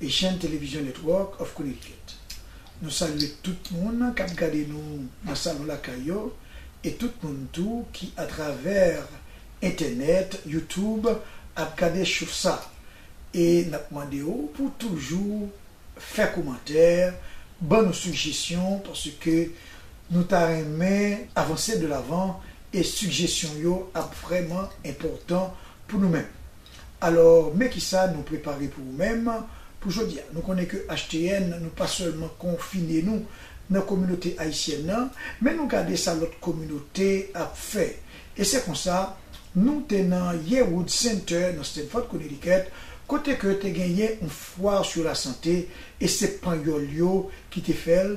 e chèn Television Network of Connecticut. Nou salye tout moun k ap gade nou nan salon lakay yo e tout moun tou ki atravè entènèt, YouTube, ap gade show sa. E n ap mande ou pou w toujou fè komantè, ban nou sigjesyon paske nou ta renmen avanse de lavan e sigjesyon yo ap vrèman enpòtan pou nou menm. Alò, men kisa nou prepare pou ou menm pou jodi a. Nou konnen ke HTN nou pa sèlman konfine nou nan kominote ayisyèn nan, men nou gade sa lòt kominote ap fè. E se konsa, nou te nan Yearwood Center nan Stamford, Connecticut, kote ke te genyen yon fwa sou lasante, e se panyòl yo ki te fè l,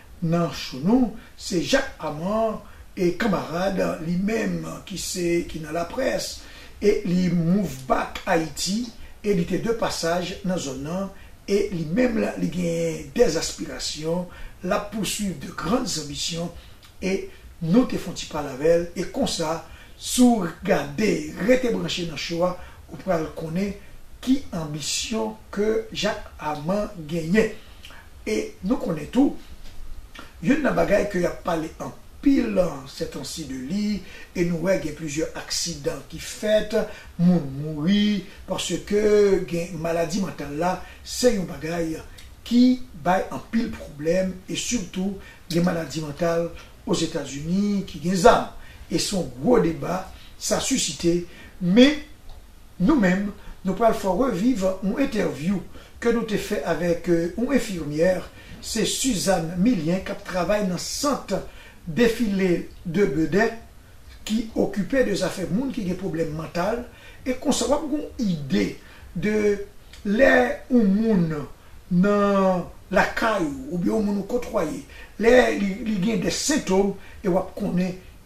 Nan show nou, se Jacques Amand e kanmarad li menm ki se ki nan laprès e li move back Ayiti e li te de pasaj nan zòn nan e li menm li genyen des aspirations, l ap poursuivre de grandes ambitions e nou te fon ti pale avè l e konsa si w gade rete branche nan show a ou pral konnen ki anbisyon ke Jacques Amand genyen. E nou konnen tou, youn nan bagay ke y ap pale anpil sètansi de li, e nou wè gen plizyè aksidan ki fèt, moun mouri, paske gen maladi mantal la, se yon bagay ki bay anpil pwoblèm, e sitou gen maladi mantal Ozetazini ki gen zam. E se yon gwo deba sa sisite, men Nou menm, nou pral fè w reviv yon entèvyou ke nou te fè avèk yon enfimyè, se Suzanne Millien k ap travay nan sant Défilé de Beudè ki okipe de zafè moun ki gen pwoblèm mantal e konsa w ap gen yon ide de lè yon moun nan lakay ou oubyen yon moun ou kotwaye lè li gen de sentom e w ap konnen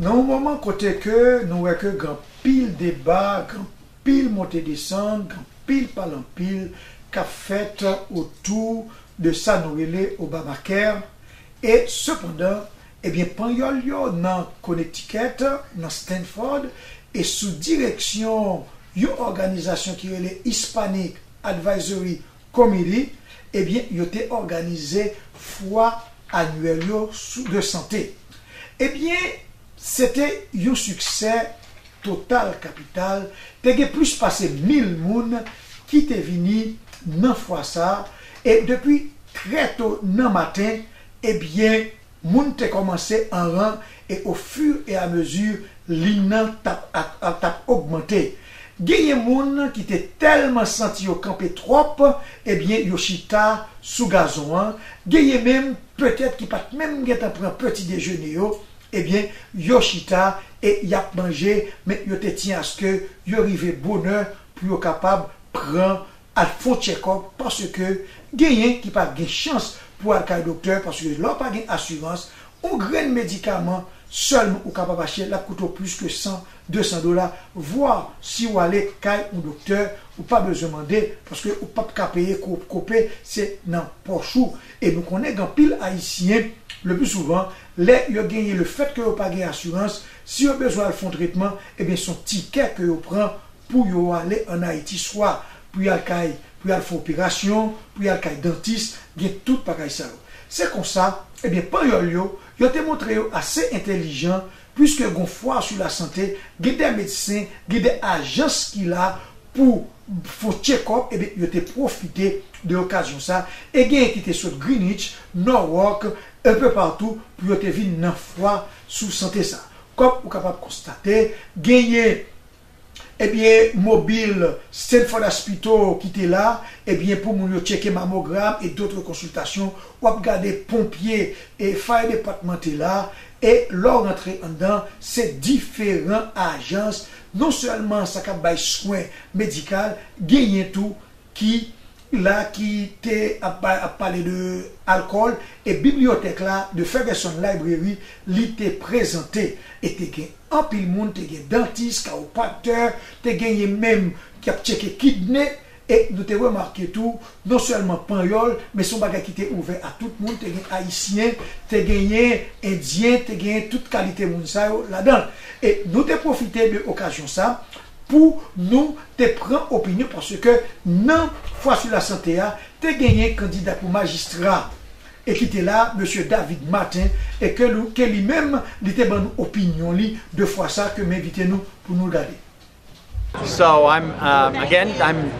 Nan yon moman kote ke nou wè ke gen anpil deba, gen anpil monte desann, gen anpil pale anpil kap fèt otou de sa nou rele Obamacare e sepandan Ebyen Panyòl yo nan Connecticut, nan Stanford, e sou direksyon yon òganizasyon ki rele Hispanic Advisory Committee, ebyen yo te òganize fwa anyèl yo sou de sante. Ebyen se te yon siksè total kapital, te gen plis pase mil moun ki te vini nan fwa sa, e depi trè to nan maten E byen, moun te kòmanse an ran e o fur e a mesure lin nan t ap ogmante, genyen moun ki te tèlman santi yo kanpe twòp, e byen yo chita sou gazon an, genyen menm petèt ki pa t menm gen tan pran peti dejene yo, e byen yo chita e y ap manje men yo te tyen aske yo rive bonè pou yo kapab pran al fon tchèkòp paske genyen ki pa gen chans pou al kay doktè paske lè w pa gen asirans on grenn medikaman sèlman ou kapab achte lap koute w plis ke 100, 200 dola vwa si w ale kay on doktè ou pa bezwen mande paske ou pap ka peye kope se nan pòch ou e nou konnen gen anpil ayisyen le pli souvan lè yo genyen le fèt ke yo pa gen asirans si yo bezwen al fon tretman ebyen son tikè ke yo pran pou yo ale an Ayiti swa pou y al kay pou y al fè operasyon, pou y al kay dantis, gen tout bagay sa yo. Se konsa, ebyen Panyòl yo, yo te montre yo ase entelijan, puiske gon fwa sou lasante, gen de medsen, gen de ajans ki la pou fon tchekòp, ebyen yo te pwofite de okazyon sa, e genyen ki te sot Greenwich, Norwalk, enpe patou pou yo te vin nan fwa sou sante sa. Kòm ou kapab konstate, genyen Ebyen mobil Stanford Aspito ki te la ebyen pou moun yo tcheke mamogram e dotre konsiltasyon wap gade ponpye e fire department te la e lè w rantre anndan se diferan ajans non sèlman sa kap bay swen medikal genyen tou ki la ki te ap pale de alkòl e bibliyotèk la de Ferguson Library li te prezante e te gen anpil moun te gen dantis kawopraktè te genyen menm ki ap tcheke kidne e nou te remake tou non sèlman panyòl men se yon bagay ki te ouvè a tout moun te gen ayisyen te genyen endyen te genyen tout kalite moun sa yo ladan l e nou te pwofite de okazyon sa. pou nou te pran opinyon paske nan fwa sou lasante a te genyen kandida pou majistra e ki te la mesye David Martin e ke nou ke li menm li te ban nou opinyon li de fwa sa ke m envite nou pou nou l gade. So I'm again I'm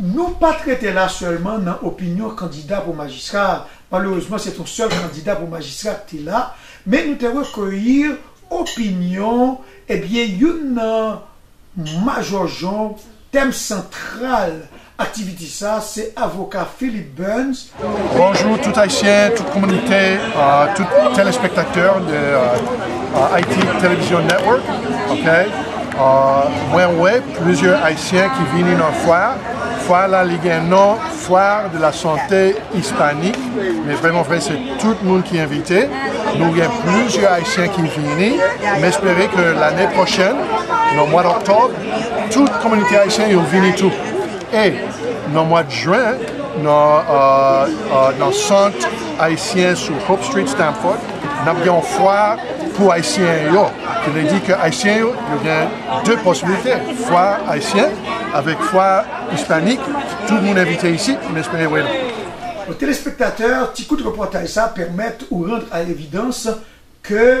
Nou pa t rete la sèlman nan opinyon kandida pou majistra a, malerezman se t on sèl kandida pou majistra k te la, men nou te rekeyi opinyon ebyen youn nan majò jonb, tèm santral aktiviti sa se avoka Philip Burns, Bonjou tout ayisyen, tout kominite, tout telespektatè de Haiti Television Network ok mwen wè plizyè ayisyen ki vini nan fwa a, fwa a la li gen non foire de la santé hispanique men vreman vre se tout moun ki envite nou gen plizyè ayisyen ki vini m espere ke lane pwochèn nan mwad oktòb tout kominite ayisyen yo vini tou. E, nan mwa jen, nan Sant Ayisyen sou Hope Street, Stamford, n ap gen yon fwa pou Ayisyen yo. Ki vle di ke Ayisyen yo, yo gen de posiblite, fwa Ayisyen avèk fwa Ispanik. Tout moun envite isit, m espere wè nou. Bon telespektatè, ti kout repòtaj sa pèmèt ou randr a levidans ke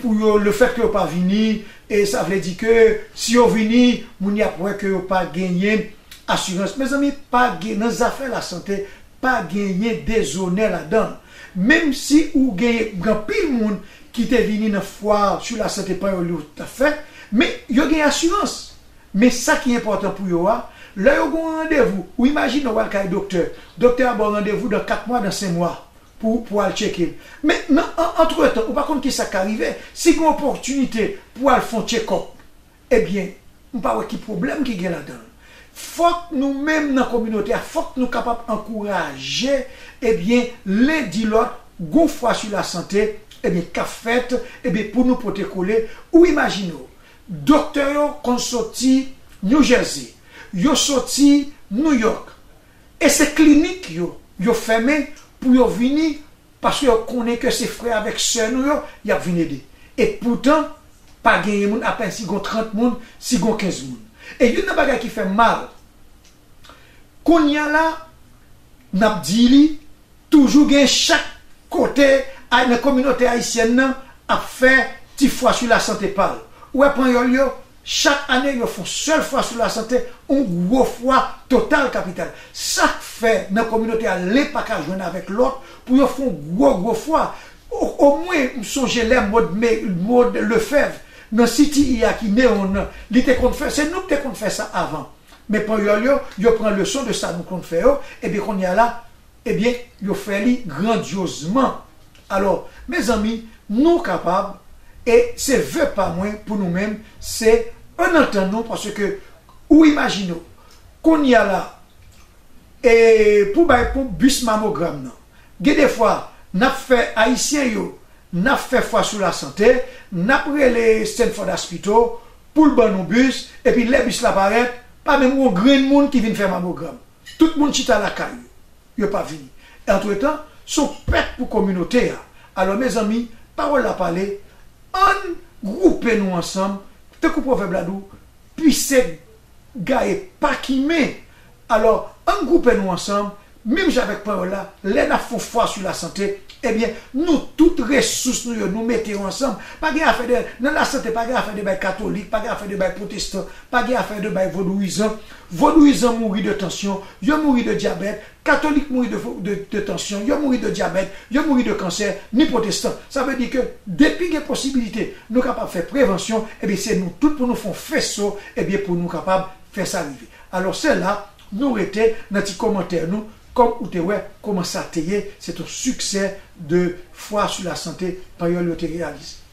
Pou yo le fèt ke yo pa vini e sa vle di ke si yo vini moun yap wè ke yo pa genyen asirans mezanmi pa gen nan zafè la sante pa genyen dezonè ladanl menm si ou genyen gan pil moun ki te vini nan fwar su la sante panyòl yo tap fè men yo gen asirans men sa ki enpòtan pou yo a lè yo gon randevou ou imajine wal kay doktè doktè a baw randevou dan 4 mwa dan 5 mwa pou pou al tcheke l. Men nan an antretan ou pa konn kisa k ka rive, si gen opòtinite pou al fon tchekòp ebyen m pa wè ki pwoblèm ki gen ladan l. Fòk nou menm nan kominote a fòk nou kapab ankouraje ebyen len di lòt gon fwa su la sante ebyen k ap fèt ebyen pou nou pote kole ou imajine w doktè yo konn soti New Jersey yo soti New York E se klinik yo, yo fèmen pou yo vini paske yo konnen ke se frè avèk sè nou yo y ap vin ede. E poutan, pa genyen moun apenn si gon 30 moun, si gon 15 moun. E youn nan bagay ki fè m mal, kounya la, n ap di li, toujou gen chak kote a nan kominote ayisyèn nan ap fè ti fwa sou lasante pa l. Ou wè Panyòl yo, Chak ane yo fon sèl fwa sou lasante, on gwo fwa total kapital. Sak fè nan kominote a len pa ka jwenn avèk lòt pou yo fon gwo gwo fwa. O mwen m sonje lè Maude May, Maude Lefèvre, nan CTI a ki Neon nan, li te konn fè, se nou ki te konn fè sa avan. Men panyòl yo, yo pran leson de sa nou konn fè yo, ebyen kounye a la, Ebyen yo fè li grandiozman alò mezanmi nou kapab e se ve pa mwen pou nou menm se e nan tan nou paske ou imajine w kounya la e pou bay pou bis mamogram nan gen de fwa nap fè ayisyen yo nap fè fwa sou la sante nap rele Stanford Aspito poul ban nou bis epi lè bis la parèt pa menm gon grenn moun ki vin fè mamogram. Tout moun chita lakay yo, yo pa vini. Antretan, se yon pèt pou kominote a. Alò, mezanmi, pawòl la pale, ann gwoupe nou ansanm, tankou pwovèb la di w, pise gaye pa kimen. Alò, ann gwoupe nou ansanm, menm jan avèk panyòl la, lè n ap fè yon fwa sou lasante, ebyen, nou tout resous nou yo, nou mete yo ansanm. Pa gen afè de, nan lasante, pa gen afè de bay katolik, pa gen afè de bay pwotestan, pa gen afè de bay vodouyizan. Vodouyizan mouri de tansyon, yo mouri de dyabèt, katolik mouri de de tansyon, yo mouri de dyabèt, yo mouri de kansè, ni pwotestan. Sa vle di ke depi gen posibilite nou kapab fè prevansyon, ebyen se nou tout pou nou fè yon feso, ebyen pou nou kapab fè sa rive. Alò se la nou rete nan ti komantè nou, kòm ou te wè kòman sa te ye, se ton siksè de fwa sou la sante Panyòl yo te reyalize.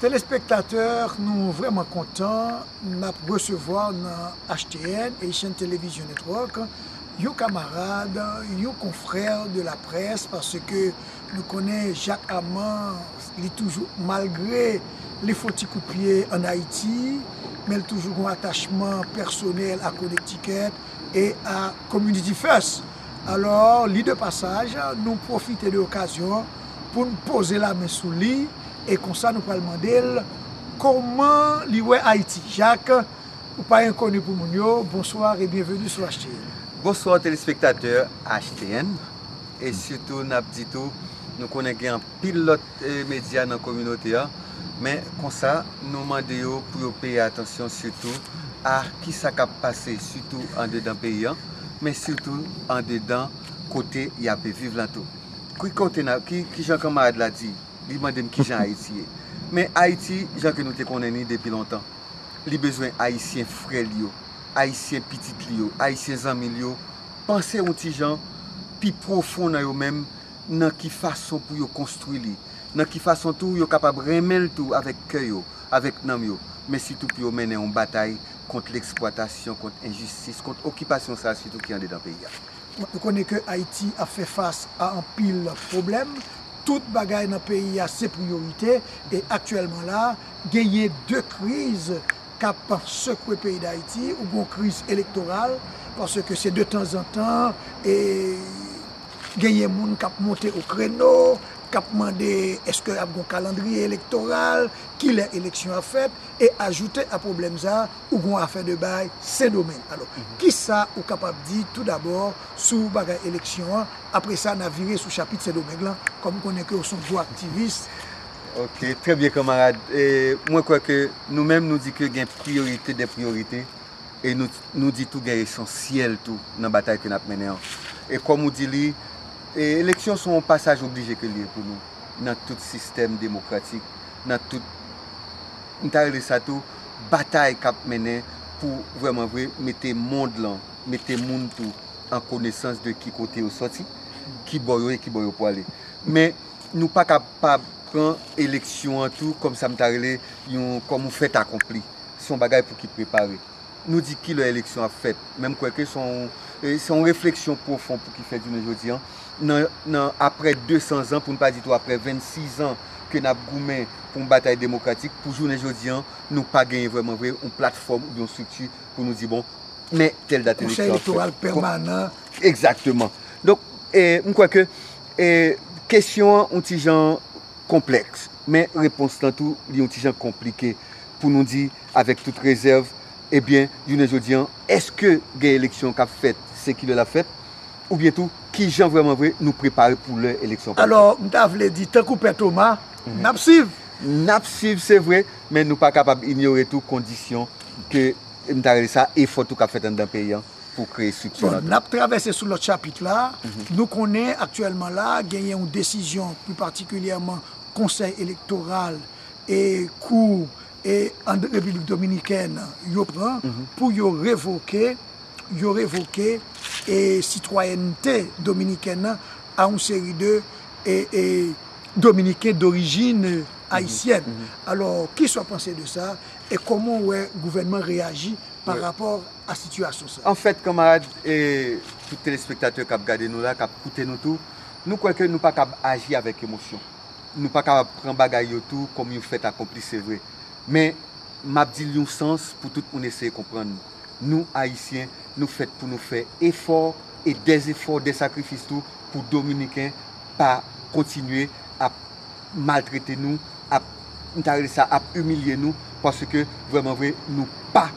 Telespektatè nou vrèman kontan nap resevwa nan HTN, Haitian Television Network, yon kamarad, yon konfrè de la près paske nou konnen Jacques Armand li toujou malgre li fon ti kout pye an Ayiti men li toujou gon atachman pèsonèl a Connecticut e a Community First. Alò li de pasaj nou pwofite de okazyon pou n poze lamen sou li e konsa nou pral mande l kòman li wè Ayiti. Jak, ou pa enkoni pou moun yo, bonsoir e byenveni sou HTN. Bonsoir telespektatè HTN e sitou n ap di tou nou konnen gen anpil lòt medya nan kominote an men konsa nou mande yo pou yo peye atansyon sitou a ki sa k ap pase sitou andedan peyi an men sitou andedan kote y ape viv lan tou. Ki kote nan, ki jan kanmarad la di, li mande m ki jan Ayiti ye. Men Ayiti, jan ke nou te konnen li depi lontan, li bezwen Ayisyen frè li yo, Ayisyen pitit li yo, Ayisyen zanmi li yo, panse yon ti jan pi pwofon nan yo menm, nan ki fason pou yo konstwi li, nan ki fason tou yo kapab renmen l tou avèk kè yo, avèk nanm yo, men sitou pou yo mennen yon batay kont leksplwatasyon, kont enjistis, kont okipasyon sa a sitou ki andedan peyi a. Nou konnen ke Ayiti ap fè fas a anpil pwoblèm, tout bagay nan peyi a se priyorite, e aktyèlman la a, genyen 2 kriz k ap sekwe peyi Dayiti, ou gen yon kriz elektoral, paske se de tanzantan e genyen moun k ap monte o kreno, k ap mande eske ap gen yon kalandriye elektoral, kilè eleksyon ap fèt, e ajoute a pwoblèm sa a, ou gon afè de bay Sendomeng. Alò, kisa ou kapab di tou dabò sou bagay eleksyon an? Apre sa, n a vire sou chapit Sendomeng lan, kòm m konnen ke ou se yon gwo aktivis. Ok, trè byen kanmarad. Mwen kwè ke nou menm nou di ke gen priyorite dè priyorite e nou di tou gen esansyèl tou nan batay ke n ap mennen an. E kòm ou di li, eleksyon se yon pasaj oblije ke li ye pou nou nan tout sistèm demokratik, nan tout, m ta rele sa tou, batay kap mennen pou vrèman vre mete mond lan, mete moun tou an konesans de ki kote yo sòti, ki bò yo ye, ki bò yo pwale. Men nou pa ka pa pran eleksyon an tou kòm sa m ta rele yon, kòm yon fèt akonpli. Se yon bagay pou ki prepare. Nou di ki lè eleksyon ap fèt, men m kwè ke se yon, se yon refleksyon pwofon pou ki fèt jounen jodi an. nan aprè 200 zan, pou n pa di tou aprè 26 zan ke n ap goumen pou yon batay demokratik, pou jounen jodi an, nou pa genyen vrèman vre yon platfòm oubyen yon estrikti pou nou di bon, men tèl dat eleksyon ap fèt. Konsèy elektoral pèmanan. Egzakteman. Donk, m kwè ke kesyon an yon ti jan konplèks, men repons lan tou li yon ti jan konplike pou nou di avèk tout rezèv, ebyen, jounen jodi an, èske gen eleksyon k ap fèt, se kilè l ap fèt? oubyen tou ki jan vreman vre nou prepare pou lè eleksyon pral fèt. Alò, m ta vle di, tankou Pè Toma, n ap swiv! N ap swiv se vre, men nou pa kapab inyore tou kondisyon ke m ta rele sa efò tou k ap fèt anndan peyi an pou kreye estrikti lan tou. Bon, n ap travèse sou lòt chapit la. Nou konnen aktyèlman la genyen yon desizyon pli patikilyèman konsèy elektoral e kou. e an repiblik dominikèn yo pran pou yo revoke yo revoke e sitwayènte dominikèn nan a yon seri de e dominiken dorijin ayisyèn alò kisa w panse de sa e kòman w wè gouvènman reyaji pa rapò a sitiyasyon sa. Anfèt kanmarad e tout telespektatè k ap gade nou la k ap koute nou tou nou kwè ke nou pa kab aji avèk emosyon. nou pa kapab pran bagay yo tou kòm yon fèt akonpli se vre, men m ap di l yon sans pou tout moun eseye konprann li. Nou, Ayisyen, nou fèt pou nou fè efò e dèzefò, dè sakrifis tou pou Dominiken pa kontinye ap maltrete nou, ap, m ta rele sa, ap imilye nou, paske vrèman vre nou pa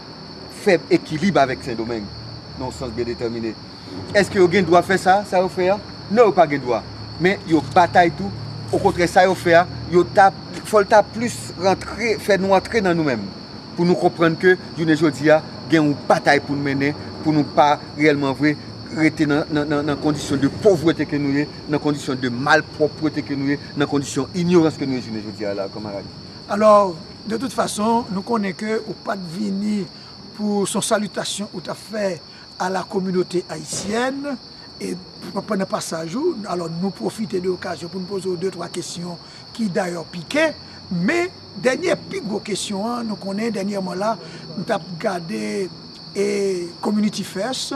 fè ekilib avèk Sendomeng nan yon sans byen detèmine. Èske yo gen dwa fè sa, sa yo fè a? Non yo pa gen dwa. Men yo batay tou, okontrè sa yo fè a, yo ta, fò l ta plis rantre, fè nou antre nan nou menm. Pou nou konprann ke jounen jodi a gen yon batay pou nou mennen, pou nou pa reyèlman vre rete nan kondisyon de povrete ke nou ye, nan kondisyon de malpwòpwete ke nou ye, nan kondisyon inyorans ke nou ye jounen jodi a la kanmarad. Alò, de tout fason, nou konnen ke ou pa t vini pou son salitasyon ou ta fè. a la kominote ayisyèn e pandan pasaj ou alò nou pwofite de okazyon pou nou poze w de twa kesyon ki dayò pike men dènye pi gwo kesyon an nou konnen dènyèman la m t ap gade e community first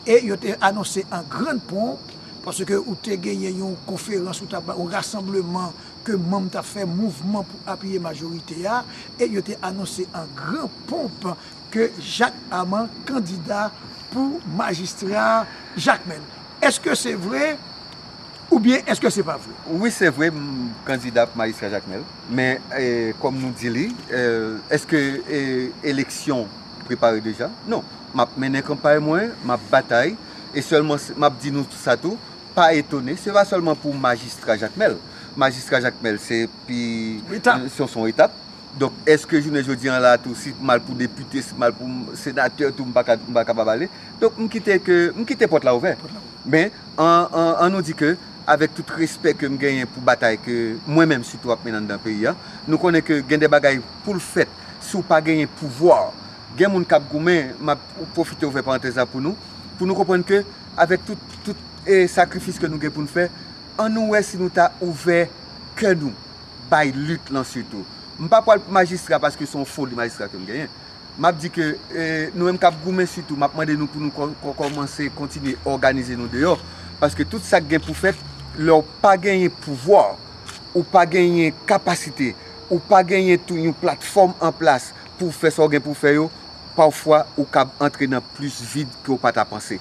e yo te anonse an grand ponp paske ou te genyen yon konferans ou t ap bay yon rasanbleman ke manm t ap fè mouvman pou apiye majorite a e yo te anonse an gran ponp. ke Jak Aman kandida pou majistra Jakmèl. Eske se vre oubyen eske se pa vre? Wi se vre m kandida pou majistra Jakmèl. Men kòm nou di li, eske eleksyon prepare deja? Non. M ap mennen kanpay mwen, m ap batay. E sèlman m ap di nou sa tou, pa etone, se pa sèlman pou majistra Jakmèl. Majistra Jakmèl se pi, se yon etap. Donk eske jounen jodi an la tou si m al pou depite, si m al pou senatè tou m pa kapab ale. Donk m kite ke, m kite pòt la ouvè. Men, an nou di ke, avèk tout respè ke m genyen pou batay ke mwen menm sitou ap mennen anndan peyi an, nou konnen ke gen de bagay pou l fèt si w pa genyen pouvwa. Gen moun k ap goumen, m ap pwofite ouvè parantèz la pou nou, pou nou konprann ke avèk tout sakrifis ke nou gen pou n fè, an nou wè si nou ta ouvè kè nou. bay lit lan sitou. M pa pwal pou majistra paske son foli majistra ke m genyen. M ap di ke nou menm k ap goumen sitou m ap mande nou pou nou kòmanse kontinye òganize nou deyò. Paske tout sa k gen pou fèt lè w pa genyen pouvwa, ou pa genyen kapasite, ou pa genyen tou yon platfòm an plas pou w fè sa w gen pou w fè yo, pafwa ou kab antre nan plis vid ke w pa ta panse.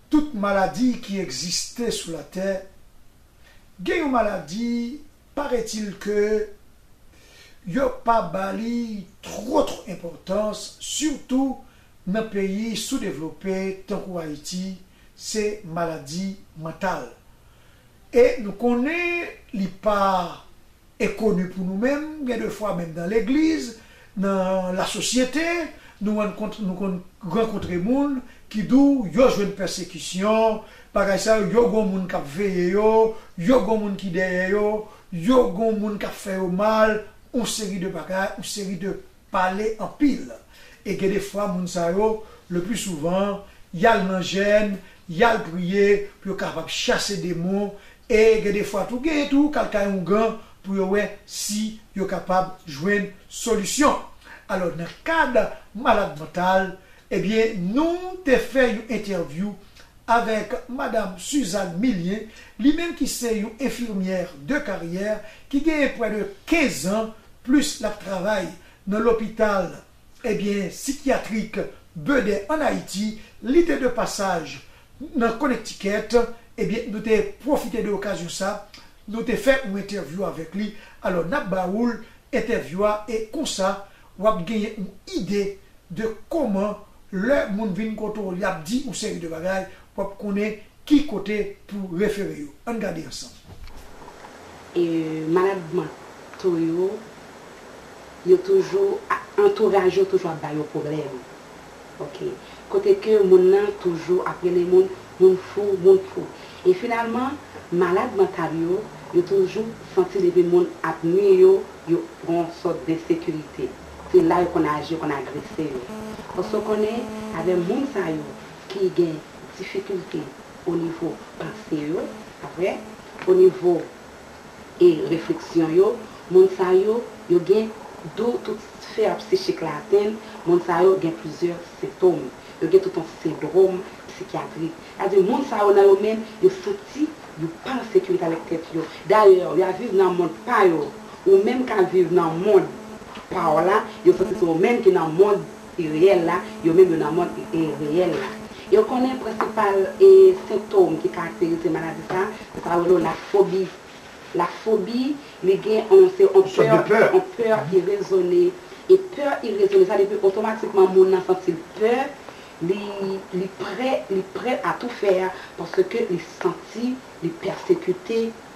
Tout maladi ki egziste sou latè, gen yon maladi paretil ke yo pa ba li two two enpotans sitou nan peyi sou devlope tankou Ayiti se maladi mantal e nou konnen li pa Enkoni pou nou menm, gen de fwa menm nan legliz, nan lasosyete, nou rann kont nou konn rankontre moun ki di w yo jwenn pèsekisyon, bagay sa yo, yo gon moun k ap veye yo, yo gon moun ki dèyè yo, yo gon moun k ap fè yo mal, on seri de bagay, on seri de. pale anpil e gen de fwa moun sa yo le pli souvan yal nan jèn yal priye pou yo kapab chase demon e gen de fwa tou genyen tou kal kay oungan pou yo wè si yo kapab jwenn solisyon alò nan kad malad mantal ebyen nou te fè yon entèvyou avèk madam Suzanne Millien li menm ki se yon enfirmyè de karyè ki genyen prè de 15 an plis lap travay nan lopital ebyen sikyatrik Bede an Ayiti, li te de pasaj nan Konektikèt ebyen nou te pwofite de okazyon sa nou te fè yon entèvyou avèk li, alò nap ba oul entèvyou a e konsa wap genyen yon ide de koman lè moun vin kote w yap di yon seri de bagay wap konnen Ki kote pou refere yo? Ann gade ansanm. E malad manto yo, yo toujou, antouraj yo toujou ap ba yo pwoblèm. Ok. Kote ke moun nan toujou ap rele moun, moun fou, moun fou. E finalman, malad mantal yo, yo toujou santi depi moun ap nui yo, yo gen yon sòt densekirite. Se la yo konn aji, yo konn agrese yo. Paske w konnen, avè moun sa yo ki gen. difikilte o nivo panse yo, apre, o nivo e refleksyon yo, moun sa yo, yo gen dou tout sfè psichik la atenn, moun sa yo gen plizyè sentom, yo gen tout yon sendrom psikyatrik. Sa di moun sa yo nan yo menm, yo santi yo pa an sekirite avèk tèt yo. Dayè, yo ap viv nan mond pa yo, ou menm k ap viv nan mond pa w la, yo santi se ou menm ki nan mond e reyèl la, yo menm yo nan mond e reyèl la. Yo konnen prensipal e sentom ki karakterize maladi sa, se sa yo rele w la fobi. La fobi, li gen on, se on pè, on pè irezone. E pè irezone sa depi otomatikman moun nan santi l pè, li, li prè, li prè a tou fè paske li santi li pèsekite.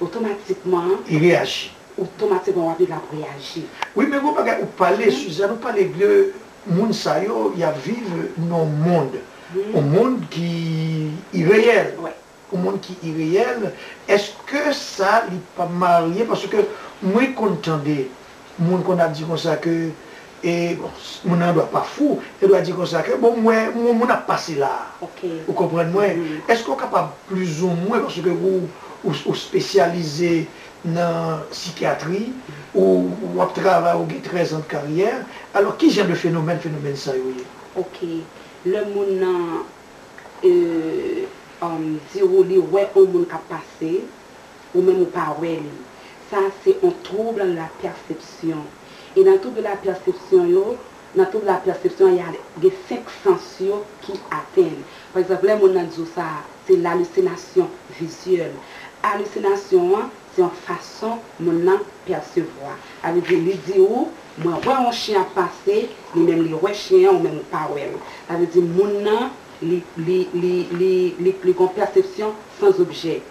Otomatikman. Li reyaji. Otomatikman wap li lap reyaji. Wi men gon bagay ou pale Suzanne ou pale de moun sa yo yap viv nan yon mond yon mond ki ireyèl yon mond ki ireyèl eske sa li pa marye paske mwen konn tande Moun konn ap di konsa ke e bon moun nan dwa pa fou, yo dwa di konsa ke bon m wè yon moun ap pase la a. Ou konprann mwen? Èske ou kapab plizoumwen paske ou ou spesyalize nan sikyatri, ou ou ap travay ou gen 13 ans de karyè, alò ki jan de fenomèn fenomèn sa yo ye? Ok. Lè moun nan e di ou li wè yon moun k ap pase, Ou menm ou pa wè li. Sa a se on trouble de la perception. E nan trouble de la perception yo, nan trouble de la perception a y a gen 5 sens yo ki atenn. Pa egzanp, lè moun nan di ou sa a, se l'hallucination visuelle. Hallucination an, se on fason moun nan pèsevwa. Sa vle di, li di ou, mwen wè on chyen ap pase, li menm li wè chyen an, ou menm ou pa wè l. Sa vle di moun nan, li, li, li, li, li, li gen on perception sans objet.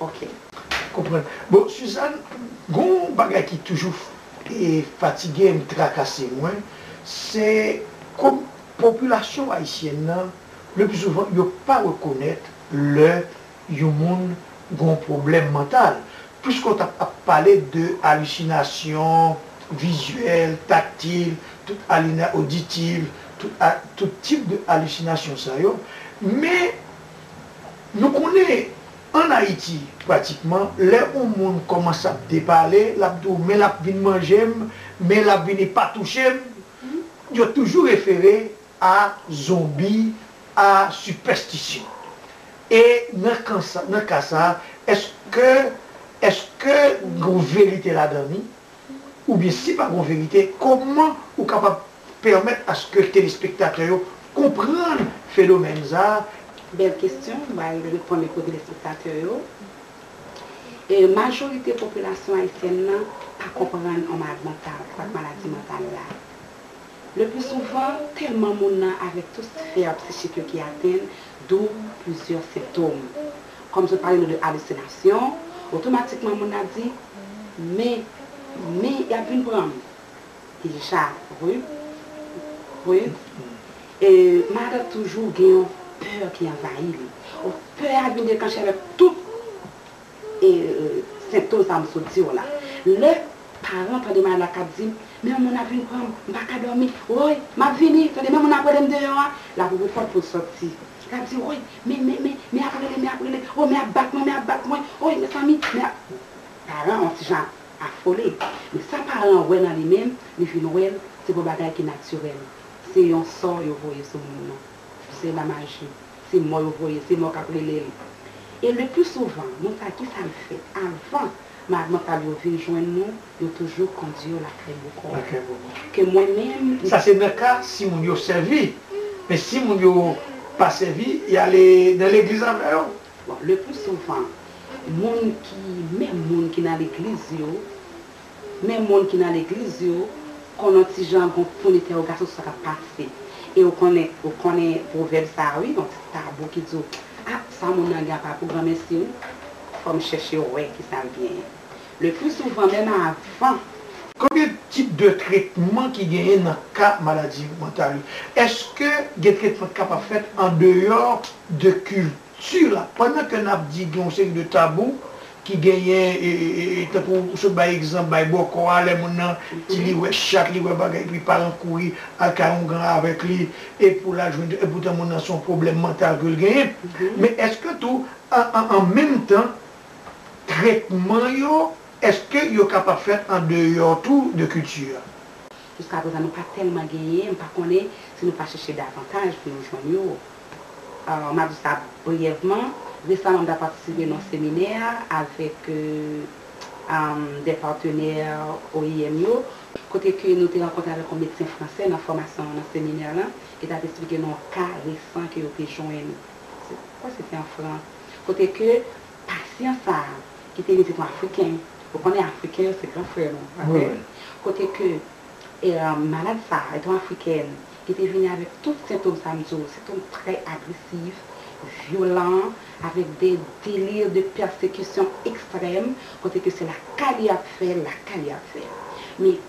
Ok. Konprann. Bon Suzanne, gon w bagay ki toujou fatige m, trakase mwen, se kom popilasyon ayisyèn nan, le pli souvan yo pa rekonèt lè yon moun gon w pwoblèm mantal. Pwiske w tap ap pale de alusinasyon vizyèl, taktil, tout alina oditil, tout tip de alusinasyon sa yo, men. Nou konnen an Ayiti pratikman lè on moun kòmanse ap depale l ap di w men l ap vin manje m, men l ap vini pa touche m, yo toujou refere a zonbi, a sipèstisyon. E nan kan sa, nan ka sa, èske, èske gen yon verite ladan li? oubyen si pa gon verite kòman ou kapab pèmèt aske telespektatè yo konprann fenomèn sa a, Bèl kesyon, m pral reponn li pou telespektatè yo. Majorite popilasyon ayisyèn nan pa konprann on malad mantal ak maladi mantal la. Lepli souvan, tèlman moun nan avèk tout sfè psichik yo ki atenn, doub plizyè senptom. Kòm sot pale nou de alusinasyon, otomatikman moun nan ap di, Men, men, y ap vin pran m. Deja, Ruth, Ruth, e, Margaret toujou gen yon pè ki anvayi li. O, pè a vin deklanche avèk tout. senptom sa m sot di w la. Lè paran m tande malad la k ap di m, men yon moun ap vin pran m, m pa ka dòmi, woy, m ap vini, tande men moun ap rele m deyò a, l ap ouvri pòt pou l soti. L ap di, woy, men, men, men, men ap rele, men ap rele, woy, men ap bat mwen, men ap bat mwen, woy, mezanmi, men ap. Paran an yon ti jan afole. Men sa paran an wè nan li menm, li vin wè l se pou bagay ki natirèl. Se yon sò yo voye sou moun nan. Se la maji. Se mò yo voye. Se mò k ap rele l. E le pli souvan, moun sa a ki sa l fè? Avan malad mantal yo vin jwenn nou, yo toujou kondi yo lakay bokò. Lakay bokò. Ke mwen menm. Sa se nan ka si moun yo sèvi. Men si moun yo pa sèvi, y ale nan legliz avè yo. Bon, le pli souvan, moun ki, menm moun ki nan legliz yo. Men moun ki nan legliz yo konn yon ti jan gon pwen detèwogasyon sou sa kap pase e ou konnen ou konnen pwovèb sa wi yon ti tabou ki di w ah sa moun nan gen an pa pou granmesi wi fò m chèche wè kisa l genyen le plus souvent menm avan. Konbyen tip de tretman ki genyen nan ka maladi mantal yo? Eske gen tretman k kapab fèt andeyò de kil? Sur la, pandan ke nap di gen yon seri de tabou ki genyen tankou ou sot bay egzanp bay bòkò a lè moun nan di li wè chat li wè bagay epi paran kouri al kay yon gran avèk li e pou lal jwenn epoutan moun nan se yon pwoblèm mantal ke l genyen men eske tou an menm tan tretman yo eske yo kapab fèt an deyò tou de kilti a? Jiskaprezan nou pa tèlman genyen m pa konnen si nou pa chèche davantaj pou nou jwenn yo. M ap di sa briyèvman. Resaman m ta patisipe nan yon seminè avèk de patenè oim yo, kote ke nou te rankontre avèk yon medsen fransè nan fòmasyon nan seminè lan, ki t ap esplike nou yon ka resan ke yo te jwenn, m kwè se te an Frans, kote ke pasyan sa a, ki te vin se te yon Afriken, ou konnen Afriken yo se gran frè nou, pa vre? kote ke malad sa a, e te yon Afrikèn, Li te vini avèk tout sentom sa m di w, sentom trè agresif, vyolan, avèk de delir de pèsekisyon ekstrèm, kote ke se lakay li y ap fè l, lakay li y ap fè l. Men,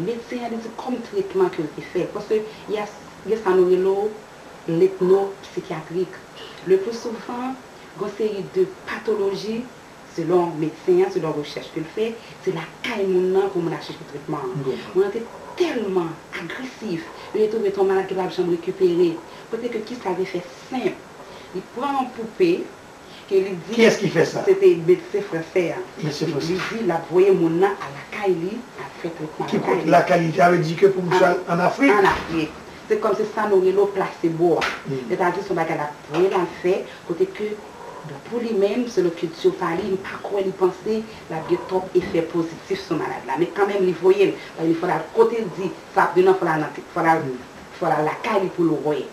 medsen an li di kòm tretman ke l te fè, paske y a gen sa nou rele w letno psikyatrik. Le pli souvan, gen yon seri de patoloji Selon medsen an, selon rechèch ke l fè, se lakay moun nan pou moun al chèche tretman an. Moun nan te tèlman agresif, yo te twouve se yon malad ki pa t ap janm rekipere, kote ke kisa l te fè senp, li pran yon poupe ke li di se te medsen fransè an, li di l ap voye moun nan al lakay li al fè tretman lakay li. Ki kote lakay li? Li te avle di ke pou misye al an Afrik? An Afrik. Se kòm se sa nou rele w plasebo a. Sètadi se yon bagay l ap voye l al fè kote ke Bon pou li menm selon kilti pa li, m pa kwè li panse l ap gen twòp efè pozitif sou malad la. Men kanmenm li voye l, paske li fò l al kote l di sa ap vin an, fò l al nan fò l al fò l al lakay li pou l wè,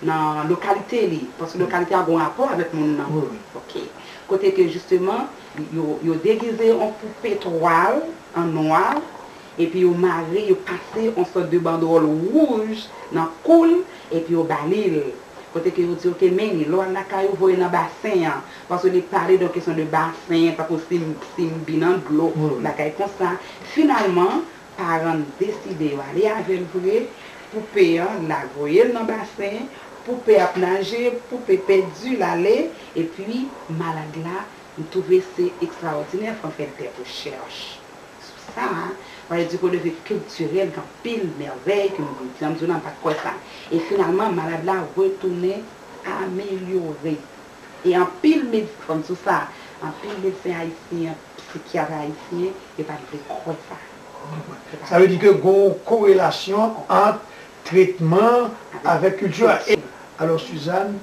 nan lokalite li, paske lokalite a gen yon rapò avèk moun nan, ok, kote ke jisteman yo degize yon poupe twal an nwa epi yo mare, yo pase on sòt de bandwòl wouj nan kou l, epi yo ba li l, kote ke yo di ok men li, lè w al lakay ou voye nan basen an, paske li pale de on kesyon de basen, tankou sim, sim bi nan dlo, bagay konsa, finalman, paran l deside yo ale avè l vre, poupe an, la voye l nan basen, poupe ap naje, poupe pèdi, l ale, epi malad la, m twouve se ekstraòdinè, fò m fè dè pou chèch. Sou sa, pale di Godeviv kiltirèl gen anpil mèvèy ke nou dwe di. An m di w non, m pa t kwè sa. E finalman, malad la retounen amelyore. E anpil med, fò m di w sa, anpil medsen ayisyen, psikyat ayisyen, yo pa t vle kwè sa. M konprann. Sa vle di ke gen yon korelasyon ant tretman avèk kilti a. Alò Suzanne,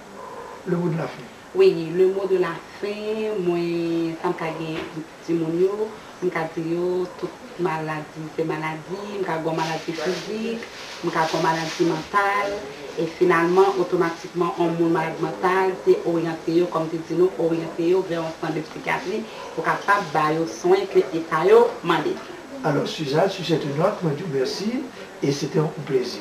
le mot de la fin. Weyy le mot de la fin mwen tanm ka gen timoun yo m ka di yo tout maladi se maladi m ka gon maladi fizik m ka gon maladi mantal e finalman otomatikman on moun malad mantal se oryante yo kòm te di nou oryante yo vè on sant de psychiatrie pou kapab ba yo swen ke eta yo mande. Alò Suzanne, si se te not, mwen di w mèsi e se te on plezi.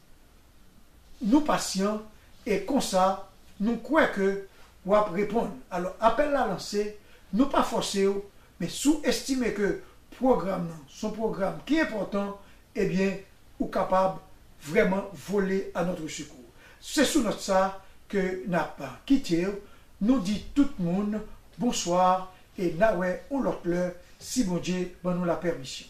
Nou pasyan e konsa nou kwè ke w ap reponn. Alò apèl la lanse, nou pa fòse w, men si w estime ke pwogram nan s on pwogram ki enpòtan, ebyen ou kapab vrèman vole a notre secours. Se sou nòt sa ke n ap kite w, nou di tout moun bonswa e na wè on lòt lè si Bondye ban nou lapèmisyon.